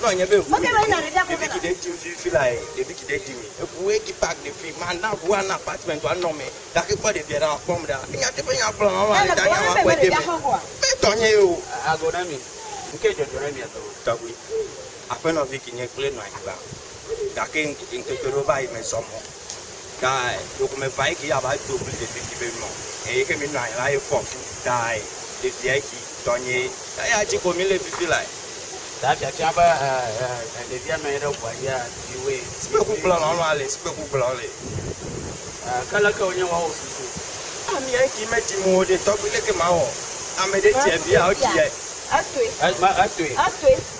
Nɔ nye be ʋu ɖevi ki ɖe dim fifi la ye, ɖevi ki ɖe dim ye. Eʋu ye ki pak ɖe fi, ma na ʋua na apartment wa nɔ me. Gake kpɔ ɖevia ɖa wa kpɔm ɖa. Enya te be nya gblɔ ma ma le ta nya wa kpɔe de me. Me tɔ nye ye o. Agɔ na mi. Ŋke dzɔdzɔ na mia tɔ. Tɔgbi, aƒenɔvi ki nye kple nɔ anyigba. Gake ŋkeke ɖewo va yi me zɔ mɔ. Kae ɖeko meva eke ya va do bli ɖevi si be nɔ eye ke mi nɔ anyi la ye fɔ fu tae ɖevia eki tɔnye. Eya dzi ko mi le fifi lae. Ta fiafia be e e e ɖevia nɔ anyi ɖe ʋua dzi e ɖevi woe. Sikpeku gblɔ lɔlɔ a le sikpeku gblɔ le. E ke leke wonye woawo susu. A mi eki me dzi mo ɖe tɔgbi leke ma wɔ ame ɖe ti evi a o ti e. Etoe. E me etoe. Etoe.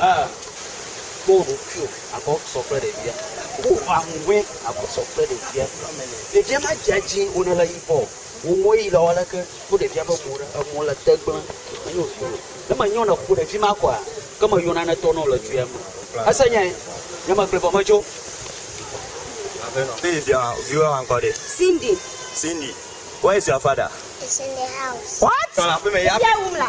A, Kpɔ wò ɖokuiwò abe sɔ kple ɖevia. Wò aŋuŋɔe abe sɔ kple ɖevia. Ɖevia madzea dzi o ne le yibɔ o. Wò ŋuwɔ yi le aleke? Kpɔ ɖevia ƒe mo ɖe, emo le te gblẽ. Menyo vi o. Ne menyɔ le ƒo ɖevi ma kɔa, ke meyɔ nane tɔ ne wòle dzoea me. Èse nyae? Nye megblɔe vɔ medzo. Aƒenɔ, ne yi via, viwò hã ŋkɔ ɖe? Cindy. Cindy, where is your father? He's in the house. What? Tɔ le aƒeme ya. Ɖevia wum la.